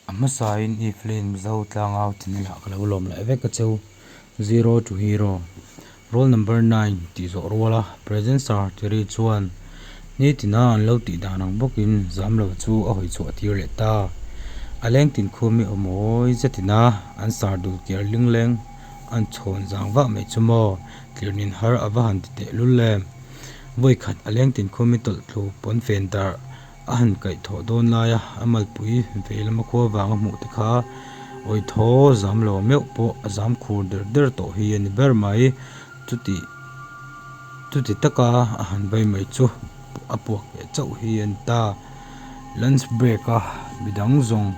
A hmasain i film zo tlangau ti nila ka lo lawm laih vek ka cheu. Zero to hero, Roll number nine tih zawh rual a present sir ti ri chuan ni tina an lo tih dan ang bawk in zam lo chu a hawi chhuah tir leh ta. A leng tin khum i aw mawi zet in a an sir dul kiar ling leng an chhawn zang vah mai chu maw tir nin har a va han ti tehlul em. Vawi khat a leng tin khum i tawlh tlu pawnfen darh. A han kaih thawh dawn laia a malpui vei lama khua vanga hmuh te kha awi thaw zam lo meuh pawh a zam khur der der tawh hi a ni ber mai. Chuti chuti taka a han vei mai chu a puak leh chauh hi a ni ta. Lunch break a midang zawng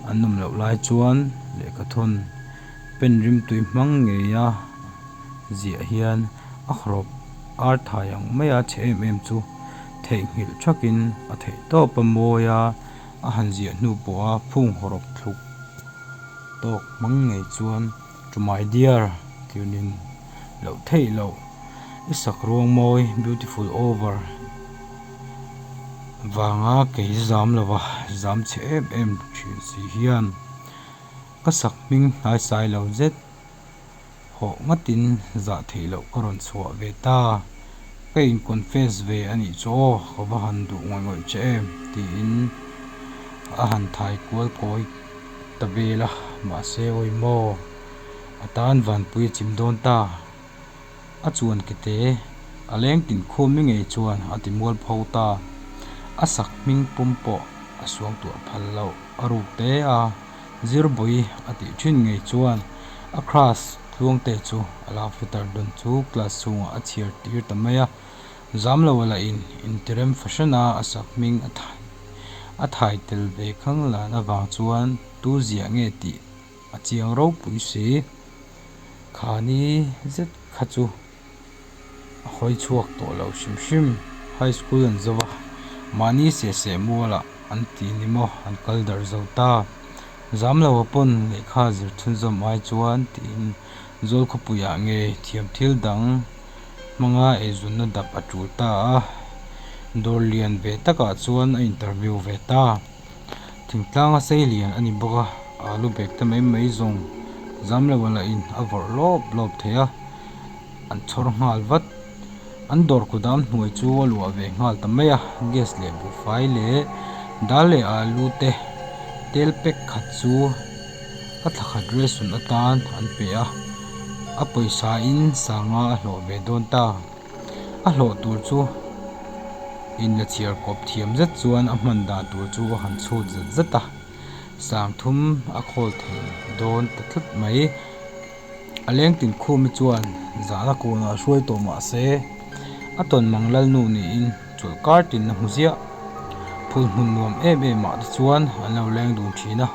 an awm loh lai chuan lehkhathawn pen rimtui hmang ngeia ziah hian a hrâwp âr thai ang maia chhe em em chu-- theihnghilh thakin a theih tawp a mawi a, a han ziah hnu pawh a phunghaw rawp thluk tawk hmang ngei chuan To my dear tirnin loh theih loh i sak ruang mawi beautiful over vanga kei zam lo a zam chhe em em thin si hian ka sak hming hnaisai lo zet. hawh ngatin zah theih loh ka rawn chhuah ve ta, ka in confess ve a nih chu aw ka va han duh ngawih ngawih che em tiin a han thai kual kawi ta vel a, mahse awi maw a tan vanpuia chim dawn ta a chuan ke te a leng tin khum ni ngei chuan a ti mual pho ta a sak hming pum pawh a suang tuah phal loh a ruk te a. Zirbuy a tih thin ngei chuan a crush Tluangte chu a la futer dawn chu class chhungah a chhiar tir ta mai a, zam lo a la in intirem fashion a a sak hming a thaih a thaih tel ve khang lan avang chuan tu ziah nge tih a chiang ropui si, khani zet kha chu. a hawi chhuak tawh lo hrim hrim high school an zo va mahni seh seh mualah an tih ni maw an kal darh zo ta zam lo a pawn lehkha zirchhun zawm ai chuan tiin zawl khawpui ah nge thiam thil dang hmanga eizunna dap a tul ta a dawr lian ve takah chuan a interview ve ta. Thingtlanga sei lian a ni bawk a, alu bag te mai mai zawng zam lo a la in a vawrh lawp lawp thei a, an chhawr nghal vat. An dawr kudam hnuai chu a luah ve nghal ta mai a, gas leh buhfai leh dal leh alu te tel pack khat chu a thla khat rilsun atan an pe a, a pawisa in sanga a hlawh ve dawn ta. A hlawh tur chu in la chhiar kawp thiam zet chuan a hman dan tur chu a han chhut zet zet a, sangthum a khawl thei dawn ta tlat mai. A leng tin khum hi chuan zan a kun ah a hruai tawh mah se, a tawn mang lal nu niin chawlh kar tin a hmu ziah. Phul hmun nuam em em ah te chuan an lo leng dun thin a,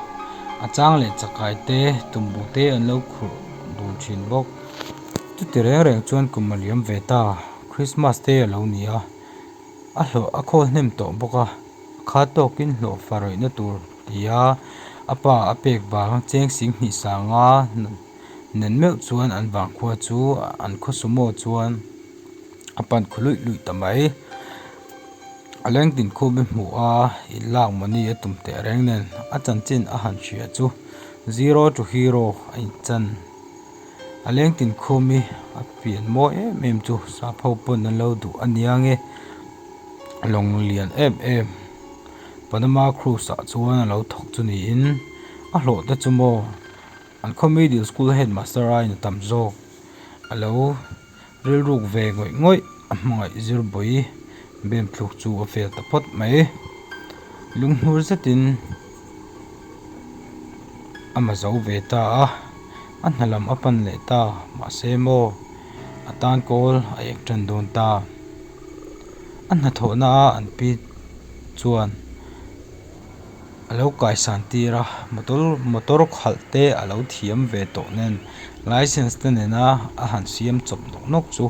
a chang leh chakai te, tumbu te an lo khurh dun thin bawk. Chuti reng reng chuan kum a liam ve ta, Krismas te a lo ni a, a hlawh a khawl hnem tawh bawk a, kha tawkin hlawh fa rawihna tur tia a pa a pek vang cheng sing hnih sanga nen meuh chuan an vang khua chu an khaw sumo chuan a pan khu luih luih ta mai, a leng tin khum i hmu a, i lak mawni a tum teh reng nen a chanchin a han hria chu, zero to hero a in chan. A leng tinkhum i a pian mawi em em chu sapho pawn an lo duh a nia nge lawng lian em em panama cruise ah chuan a lo thawk chu niin a hlawh te chu maw an khaw middle school headmaster a inah tam zawk a lo-- Rilruk ve ngawih ngawih a hmangaih zir bawi bemthluk chu a fel ta phawt mai. Lunghnur zetin a ma zo ve ta a, a hna lam a pan leh ta mahse maw a tan kawl a ek tan dawn ta. A hnathawhna a an pi chuan. alo kaisan tir a motor motor khalh te alo thiam ve tawh nen licence te nena a han siam chawp nawk nawk chu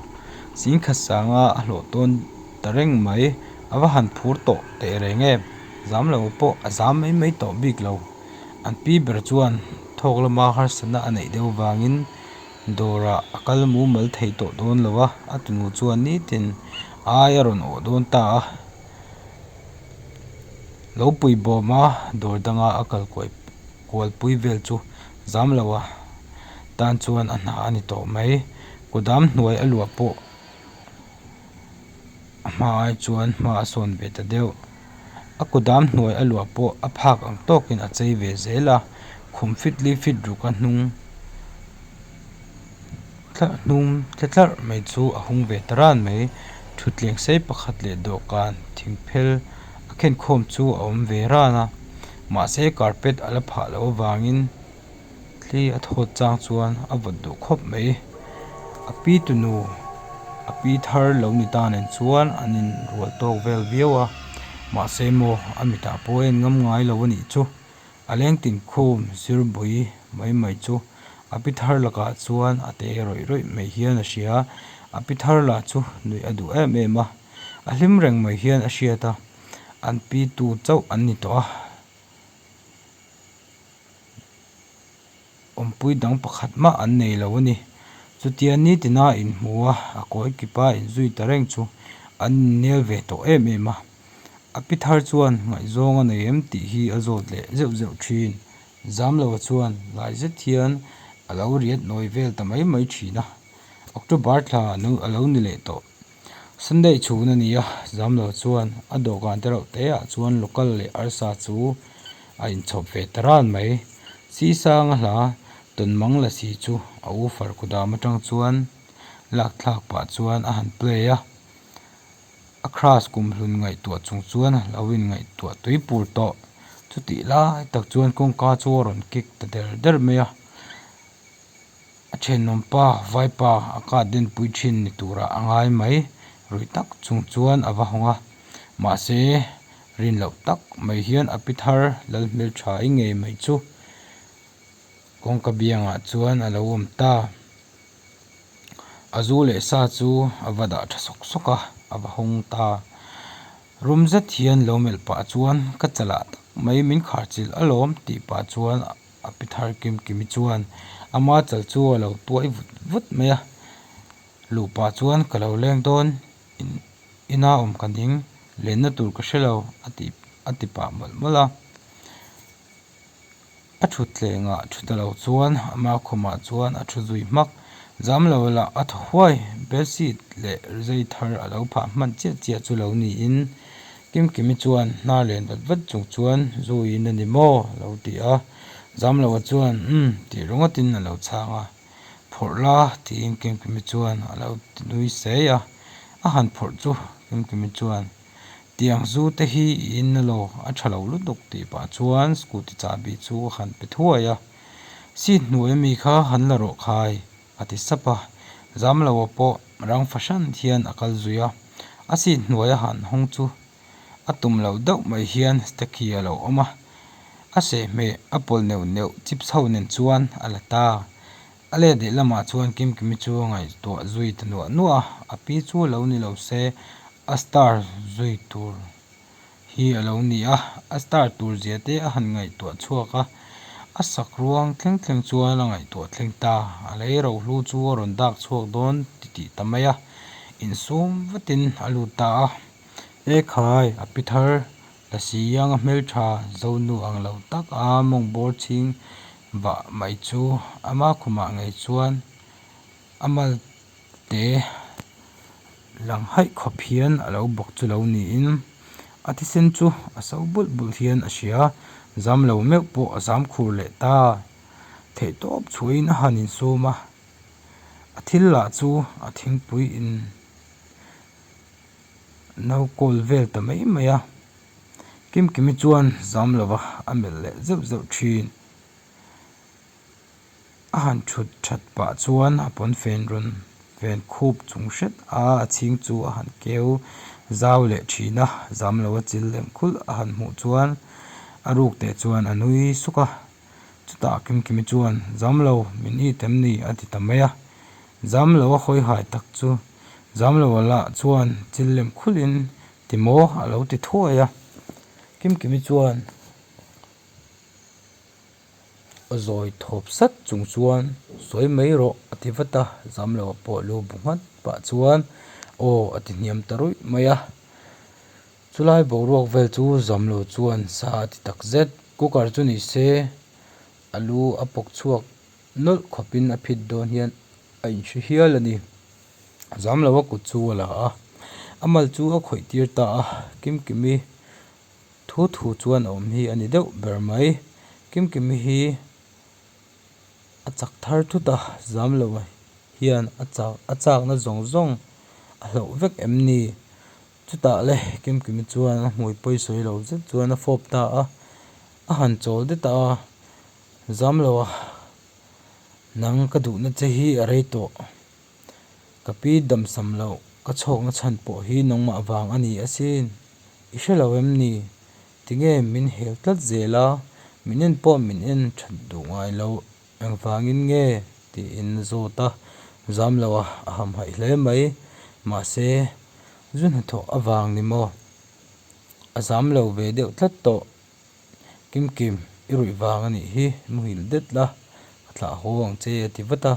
sengkhat sanga a hlawh dawn ta reng mai ava han phur tawh teh reng e zam lo pawh a zam mai mai tawh bik lo an pi ber chuan thawk lama harsatna a neih deuh vangin dawrah a kal mumal thei tawh dawn lo a a tunu chuan nitin aia rawn awh dawn ta a. lo pui bawm a dawr danga a kal kuaih kualpui vel chu zam lo a tan chuan a hna a ni tawh mai kudam hnuai a luah pawh a hma ai chuan hma a sawn ve ta deuh a kudam hnuai a luah pawh a phak ang tawk in a chei ve zel a khum fitli fit ruk a hnung-- Thla hnum tle tlarh mai chu a hung ve ta ran mai. Thutthleng sei pakhat leh dawhkan thing phel a khenkhawm chu a awm ve ran a. Mahse carpet a la phah loh avangin thli a thawt chang chuan a vawt duh khawp mai. A pi tunu a pi thar lo ni ta nen chuan an in rual tawk vel viau a. Mahse maw a mitah pawh a en ngam ngai lo a nih chu. A leng tinkhum zirbui mai mai chu a pi thar lakah chuan a te rawih rawih mai hian a hria. A pi thar lah chu nuih a duh em em a, a hlim reng mai hian a hriat a, an pitu chauh an ni tawh a. Awmpui dang pakhat mah an nei lo a ni. Chutia nitina in hmu a, a kawi kip a in zui ta reng chu an in nel ve tawh em em a. A pi thar chuan ngaihzawng a nei em tih hi a zawt leh zeuh zeuh thin. Zamlo a chuan lai zet hian a lo riat nawi vel ta mai mai thin a. October thla a lo ni leh tawh. Sunday chhun a ni a, zam lo chuan a dawhkan te reuh te ah chuan local leh arsa chu a in chhawp ve ta ran mai. Sih sanga hla tawn mangla si chu a ufer kudam atang chuan lak thlak pah chuan a han play a, a crush kum hlun ngaihtuah chung chuan a lo in ngaihtuah tui pur tawh. Chutih lai tak chuan kawngka chu a rawn kick ta der der mai a. A thenawmpa vaipa a cut denpui thin ni turah a ngai mai rui tak chung chuan a va hawng a, mahse rin loh tak mai hian a pi thar lal hmel tha i ngei mai chu. Kawngka biangah chuan a lo awm ta. A zu leh sa chu a va dah tha sawk sawk a, a va hawng ta. Rum zet hian lo melh pah chuan ka chalah tak mai min kharchilh alawm tih pah chuan a pi thar kim kim i chuan a ma chal chu a lo tuai vut vut mai a luh pah chuan ka lo leng dawn in ina awm ka ding len na tur ka hre lo a tih a ti pah mawlh mawlh a a thutthleng ah thu ta lo chuan a ma khum ah chuan a thu zui hmak zam lo lah a thaw huai bedsheet leh zai thar a lo phah hman chiah chiah chu lo ni in-- Kimkimi chuan hna len vat vat chung chuan, Zuiin a ni maw? a lo ti a. Zamloa chuan, Um, tih ringawtin a lo chhang a. Phawrh la, tiin Kimkimi chuan a lo ti nui sei a. A han phawrh chu, Kimkimi chuan, Tiang zu te hi i in na lo, a tha lo lutuk tih pah chuan scooty chabi chu a han pe thuai a. Seat hnuaia mi kha han la rawh khai. a ti sap a, Zamloa pawh rang fahran hian a kal zui a, a sit hnuai a han hawng chu a tum loh deuh mai hian Stecky a lo awm a, a sehmeh a pawl neuh neuh chip chho nen chuan a la ta. A let leh lamah chuan Kimkimi chu ngaihtuah zui ta nuah nuah a, a pi chu a lo ni lo se a star zui tur hi a lo ni a a start tur zia te a han ngaihtuah chhuak a a sak ruang thleng thleng chuan a ngaihtuah thleng ta a lei ro hlu chu a rawn dak chhuak dawn ti tih ta mai a insum vatin a lut ta a he khai a pi thar la si anga hmeltha zonu ang lo tak a mawng bawr chhing bah mai chu ama khumah ngei chuan a mal te. Lang haih khawp hian a lo bawk chu lo niin a thisen chu a so bulh bulh hian a hria. Zam lo meuh pawh a zam khur leh ta. Theih tawp chhuahin a han insum a, a thil lah chu a thingpui in no call vel ta mai mai a. Kim Kimi chuan zam lova a melh leh zeuh zeuh thin. A han thut that pah chuan a pawnfen rawn ven khup chung hret a, a chhing chu a han keu zau leh thin a, zam lo a chil lem khulh a han hmuh chuan a ruk teh chuan a nui suk a, chutah Kimkimi chuan zam lo min i tem ni a ti ta mai a, zam lo a hawi hai tak chu zam lo a lah chuan chil lem khulh in ti maw a lo ti thuai a, Kimkimi chuan. Zawi thawp sat chung chuan, Sawi mai rawh, a ti vat a, Zamloa pawh lu bu nghat pah chuan, Aw, a ti hniam ta ruih mai a. Chulai boruak vel chu Zamlo chuan sa a ti tak zet. Cooker chu ni se, a lu a pawk chhuak nawlh khawpin a phit dawn hian a inhre hial a ni. Zamlo a kut chu a la a, a mal chu a khawih tir ta a, kim kim i Thu thu chuan a awm hi a ni deuh ber mai. Kimkimi hi a chak thar thut a, Zamlo hian a chak a chakna zawng zawng a hlauh vek em ni? Chutah le Kimkimi chuan a hmui pawi sawi lo zet chuan a fawp ta a, a han chawl det a, Zamlo a, nang ka duhna che hi a rei tawh. Ka pi damsam loh, ka chhawkna chhan pawh hi nangmah vang a ni asin. I hre lo em ni? Tinge min hel tlat zel a, min en pawh min en that duh ngai lo, engvangin nge? tiin zawt a zam lo a, a hamhaih hle mai. Mahse, zu hnathawh avang ni maw? A zam lo ve deuh tlat tawh. Kimkim, i ruih vang a nih hi, i muhil det la, ka thlah haw ang che a ti vat a.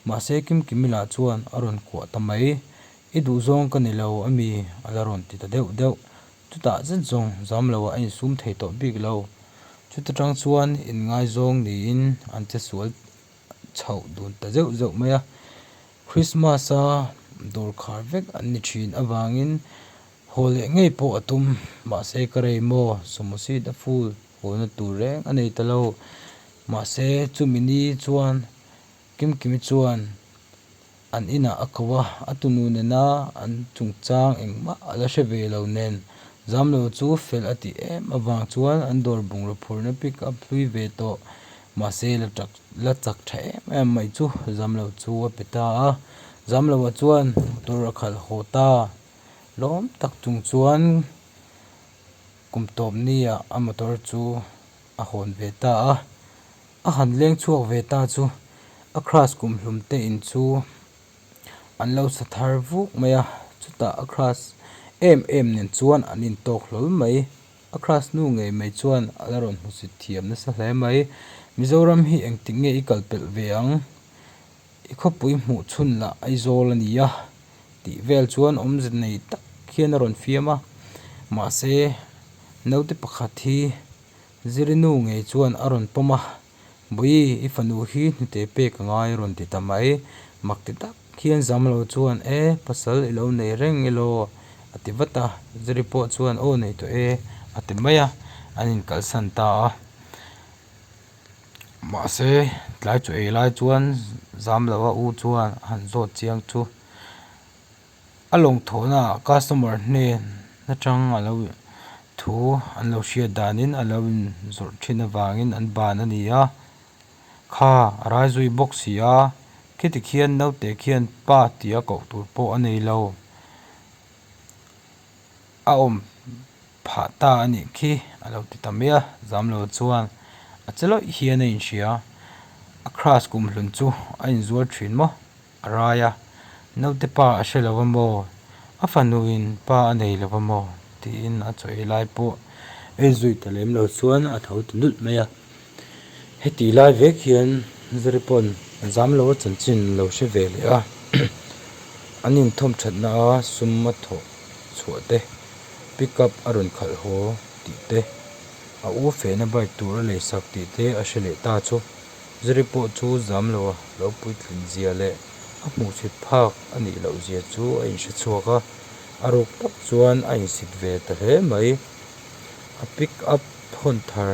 Mahse Kimkim i la chuan a rawn kuah ta mai. I duh zawng ka ni lo a mi, a la rawn ti ta deuh deuh. Chutah zet zawng zam lo ah a insum thei tawh bik lo. Chuta tang chuan in ngaizawng niin an che sual chhoh dun ta zeuh zeuh mai a. Krismasa dawr khar vek an ni thin avangin. Haw leh ngei pawh a tum, mahse ka rei maw, Somosit a fool huana tur reng a nei ta lo. Mahse, chumi ni chuan Kimkimi chuan an inah a ko a, a tunu nena an chungchang engmah a la hre ve lo nen, Zamlo chu fel a tih em avang chuan an dawr bungraw phurna pick up hlui ve tawh. Mahse, la chak la chak tha em em mai chu Zamlo chu a pe ta a, Zamlo-a chuan motor a khalh haw ta. lawm tak chung chuan kum tawpnia a motor chu a hawn ve ta a a han leng chhuak ve ta chu a crush kum hlum te in chu an lo sa thar vuk mai a chutah a crush em em nen chuan an in tawk hlawl mai a crush nu ngei mai chuan a la rawn hmusit thiam nasa hle mai Mizoram hi engtik nge i kalpelh ve ang. I khawpui hmuh chhun lah Aizawl a ni a tih vel chuan awmze nei tak hian a rawn fiam a. Mahse, naute pakhat hi Zirinu ngei chuan a rawn pawm a, Bawihi, i fanu hi hnute pek a ngai a rawn ti ta mai. Makti tak hian Zamlo chuan, E, pasal i lo nei reng i law? a ti vat a. Ziri pawh chuan, Aw, nei tawh e, a ti mai a, an inkalsan ta a. Mahse, tlai chu ei lai chuan zam lo a u chuan a han zawt chiang chu. A lawmthawhna ah customer hnen atang a lo in thu an lo hriat dan in a lo in zawrh thin avang in an ban a ni a. Kha a rai zui bawk si a, khitik hian naute khian pa tih a koh tur pawh a nei lo. A awm Phah ta a nih khi a lo ti ta mai a, Zamlo chuan a che lawih hian a inhria, A crush kum hlun chu a inzuar thin maw? A rai a, Naute pa a hre lo va maw? A fanu in pa a nei lo va maw? tiin a chawih lai pawh ei zui ta lem lo chuan a tho ta nulh mai a. Heti lai vek hian zari pawn zam lo a chanchin lo hre ve leh a, an inthawm thatna a sum a thawh chhuah te, pick up a rawn khalh haw tih te, a u fehna bike tur a lei sak tih te a hre leh ta chu zari pawh chu zam lo a lo puitlin zia leh a hmuh chhit phak a nih loh zia chu a inhre chhuak a, a ruk tak chuan a insit ve ta hle mai. a pick up hawn thar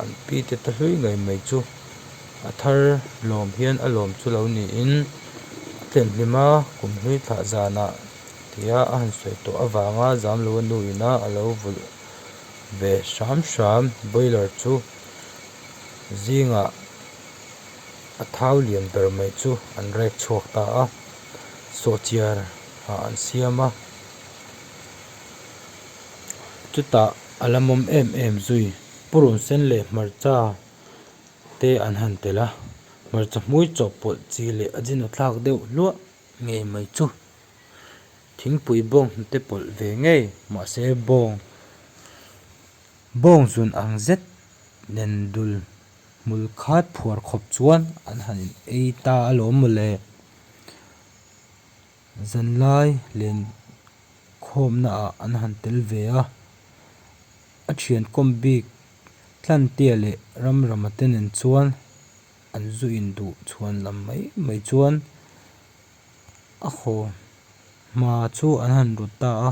an pi te ta hlui ngei mai chu a thar lawm hian a lawm chu lo niin a thlen hlim a kum hlui thlah zanah tia a han sawi tawh avanga zam lo a nu ina a lo vulh ve hram hram boiler chu zingah a thau lian ber mai chu an rek chhuak ta a sawhchhiar ah an siam a. chutah a la mawm em em zui purun sen leh hmarcha te an han tel a hmarcha hmui chawh pawlh chi leh a zin a thlak deuh hluah ngei mai chu thingpui bawng te pawlh ve ngei mahse bawng bawng zun ang zet nen dul hmul khat phuar khawp chuan an han ei ta a lawm mawle. Zanlai len khawmnaah an han tel ve a, a thian kawm bik tlantia leh ramrama te nen chuan an zu in duh chhuan lam mai mai chuan a khaw hma chu an han rut ta a,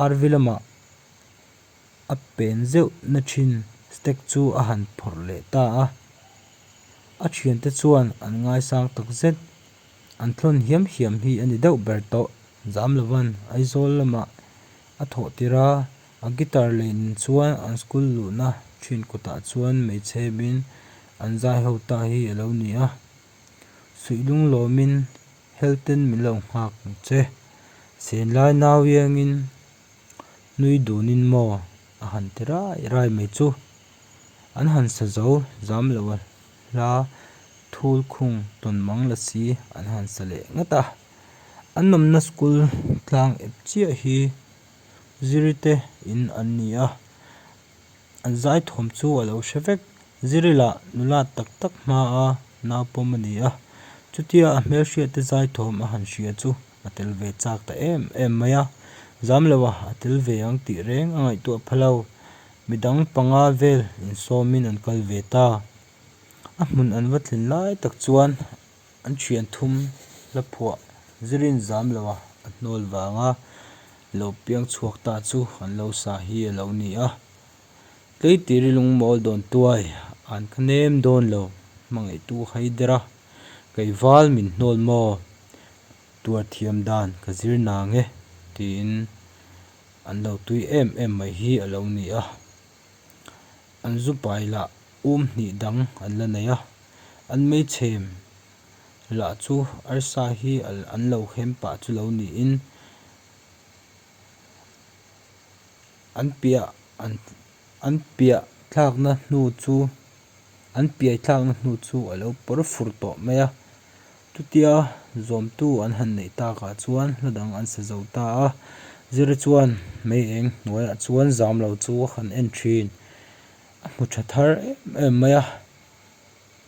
arvi lamah a pen zeuh na thin stack chu a han phawrh leh ta a, a thiante chuan an ngaisang tak zet. An thlawn hiam hiam hi a ni deuh ber tawh. Zam lo van, Aizawl lamah a thawh tir a, a guitar lei nen chuan an school luhna ṭhin kutah chuan hmeichhe min an zai ho ta hi a lo ni a. Suihlung lawmin helten min lo nghak che. Senlai nau iangin nui dunin maw a han ti rai rai mai chu. An han sa zo zam lo a hla, thul khung tawn mang la si an han sa leh ngat a. An awmna school tlang ep chiah hi Ziri te in an ni a, an zai thawm chu a lo hre vek. Ziri lah nula tak tak hmaa naupawm a ni a, chutia a hmelhriate zai thawm a han hria chu. a tel ve chak ta em em mai a, zam lo a a tel ve ang tih reng a ngaihtuah pha lo. Midang panga vel insawmin an kal ve ta. A hmun an va thlin lai tak chuan an thian thum la phuah zirin zam lo a a hnawl vang a lo piang chhuak ta chu an lo sa hi a lo ni a. Tlei tih ri lung mawl dawn tuai an kha nem dawn lo hmangaihtu a haider a kei val min hnawl maw? Tuar thiam dan ka zir na nge tiin an lo tui em em mai hi a lo ni a. An zu pai lah um hnih dang an la nei a. An meichhem lah chu arsa hi an lo hem pah chu lo niin an piah an piah thlakna hnu chu an piai thlakna hnu chu a lo pawr fur tawh mai a. Chutia zawmtu an han neih takah chuan hla dang an sa zo ta a, zira chuan mei eng hnuaiah chuan zam lo chu a han en thin. A hmu tha thar em em mai a,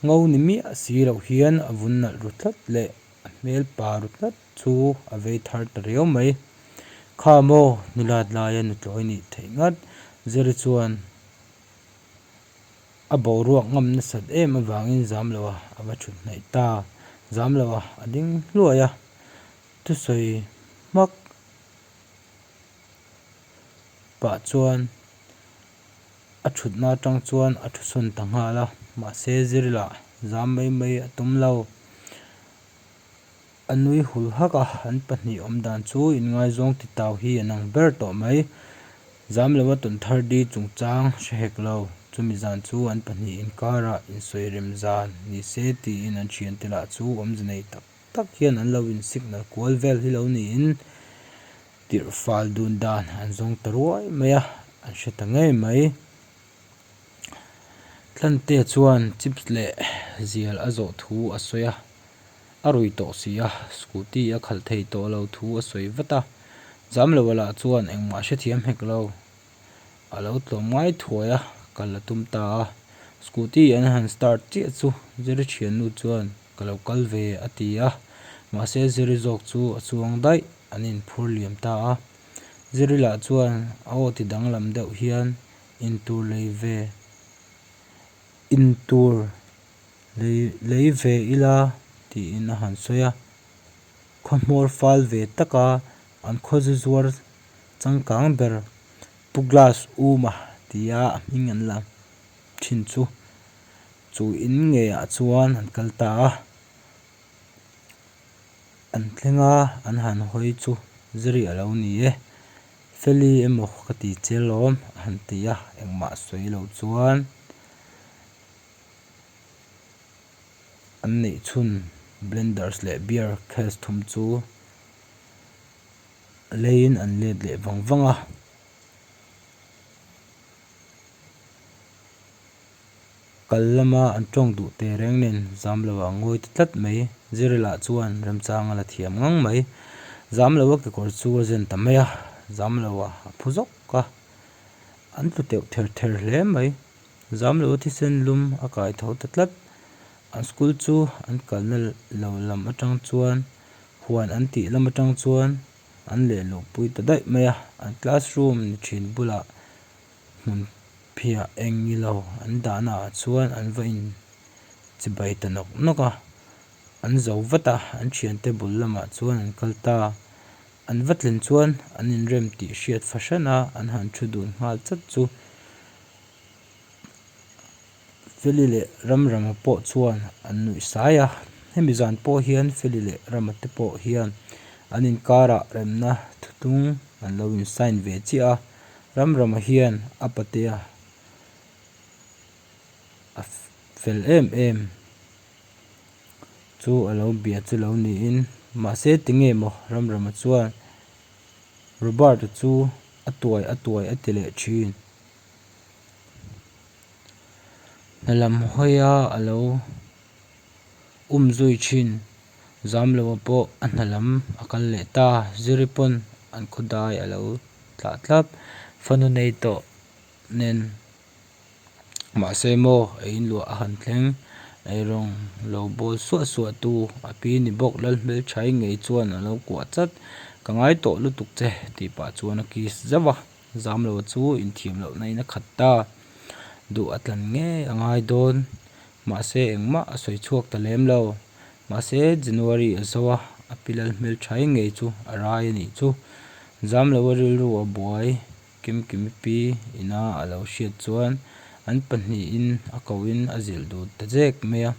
ngo ni miah si loh hian a vun nalh ru tlat leh a hmel pa ru tlat chu a vei thar ta riau mai. Kha maw, Nulat laia nutlawi a nih theih ngat, zira chuan. A boruak ngam nasat em avangin Zamloa a va thuthnaih ta. Zamloa a ding hluai a, thusawi hmak pah chuan a thutna atang chuan a thusawn ta nghal a, mahse zir lah zam mai mai a tum lo. A nui hul hak a, an pahnih awmdan chu inngaizawng ti tau hi a nang ber tawh mai. Zam lo a tawn thar di chungchang hre hek lo, chumi zan chu an pahnih inkarah insawi rem zan ni se tiin an thian tel ah chu awmze nei tak tak hian an lo insignal kual vel hi lo niin tirhfal dun dan an zawng ta ruai mai a, an hre ta ngei mai. Tlante chuan chips leh zial a zawh thu a sawi a, a rui tawh si a, scooty a khalh thei tawh lo thu a sawi vat a. Jam lo a lah chuan engmah hrethiam hek lo a lo tlawm ngai thuai a, kal a tum ta a. Scooty an han start chiah chu ziri thiannu chuan ka lo kal ve a ti a, mahse ziri zawk chu a chuang daih an inphur liam ta a. Ziri lah chuan aw ti danglam deuh hian. Intur lei ve intur lei lei ve ila tiin a han sawi a, khawhmawr fal ve taka an khawzu zuar changkang ber pu glass uma tia a hming an la thin chu chu in nge ah chuan an kal ta a, an thlenga an han hawi chu zari alo ni e. Feli emaw ka ti che lawm a han ti a, engmah sawi lo chuan an neih chhun blenders leh beer case thum chu leiin an let leh vang vang a. Kal lama an tawng duh teh reng nen Zamloa a ngawi ta tlat mai. Zirila chuan remchang a la thiam ngang mai. Zamloa kekawr chu a zen ta mai a, Zamloa a phu zawk a, an tlu teuh ther ther hle mai. Zamloa thisen lum a kai tho ta tlat. An school chu an kalna lo lam atang chuan huan an tih lam atang chuan an lehluh pui ta daih mai a. An classroom ni thin bulah. hmunphiah eng ilo an dahna ah chuan an va in chibai ta nawk nawk a an zo vat a an thiante bul lamah chuan an kal ta a an va tlen chuan an in rem tih hriat fahran a an han thu dun nghal chat chu. Feli leh Ramrama pawh chuan an nuih sai a, hemi zan pawh hian Feli leh Rama te pawh hian an inkarah remna thutung an lo in sign ve chiah a, Ramrama hian a patea a fel em em chu a lo bia chu lo niin, mahse ti nge maw Ramrama chuan Roberta chu a tuai a tuai a ti leh thin. Hna lam hawia a lo um zui thin. Zamloa pawh a hna lam a kal leh ta. Ziri pawn an khawdai a lo tlah tlap. Fanu nei tawh nen. Mahse maw ei in luah a han thleng. Eirong lo bawl suah suah tu a pi ni bawk lal hmelchhai ngei chuan a lo kuah chat. Ka ngai tawh lutuk che tih pah chuan a kiss zauh a. Zam lo chu inthiam loh na in a khat ta, duh a tlan ngei a ngai dawn. Mahse engmah a sawi chhuak ta lem lo. Mahse January a zo a, a pilal hmelthai ngei chu a rai a nih chu. Zam lo a rilru a buai, Kemkimipi ina a lo hriat chuan an pahnih in a ko in a zilh dut ta zek mai a.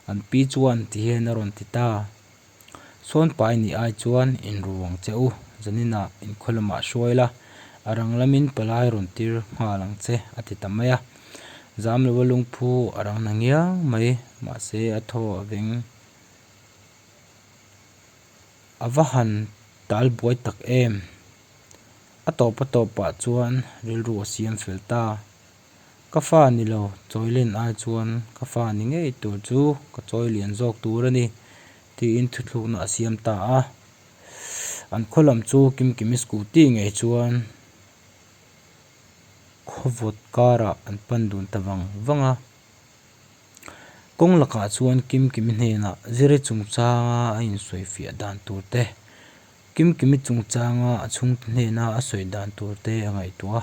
An pi chuan tihian a rawn ti ta. Sawnpa i nih ai chuan in ruang che u, Janina in khaw lamah hruai la, a rang lamin palai rawn tir nghal ang che, a ti ta mai a. Zam lova lungphu a rang na ngiang mai, mahse a thaw a veng. A va han tal buai tak em! A tawpa tawpah chuan rilru a siam fel ta. Ka fa ni lo, Chawilen ai chuan ka fa ni ngei tur chu ka chawi lian zawk tur a ni, tiin thuthlukna a siam ta a. An khaw lam chu Kimkimi scooty ngei chuan khawvawt karah an pan dun ta vang vang a. Kawng lakah chuan Kimkimi hnenah ziri chungchanga a insawi fiah dan tur te, Kimkimi chungchanga a chhungte hnena a sawi dan tur te a ngaihtuah a.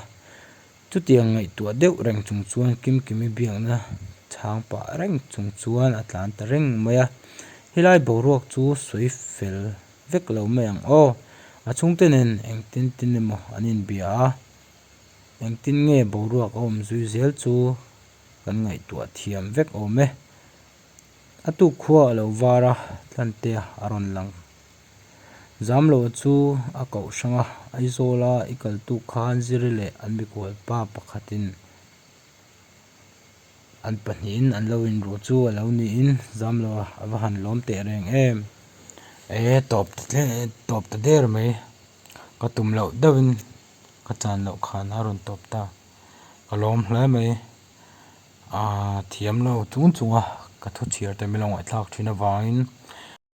Chutiang ngaihtuah deuh reng chung chuan Kim Kimi biakna chhang pah reng chung chuan a tlan ta reng mai a, Helai boruak chu sawi fel vek lo mai ang aw, a chhungte nen engtin tin emaw an inbia a, engtin nge boruak a awm zui zel chu kan ngaihtuah thiam vek awm e. A tu khua a lo var a, thlante a rawn lang. Zamlo chu a koh hrang a, Aizawla i kaltu khan Ziri leh an mikual pa pakhatin an pahnihin an lo inruh chu a lo niin Zamlo a va han lawm teh reng em! Ee, tawp ta hle, tawp ta der mai, ka tum loh deuhin ka chan loh khan a rawn tawp ta, ka lawm hle mai, aah, thiamlo chung chunga ka thuchhiar te min lo ngaihthlak thin avangin.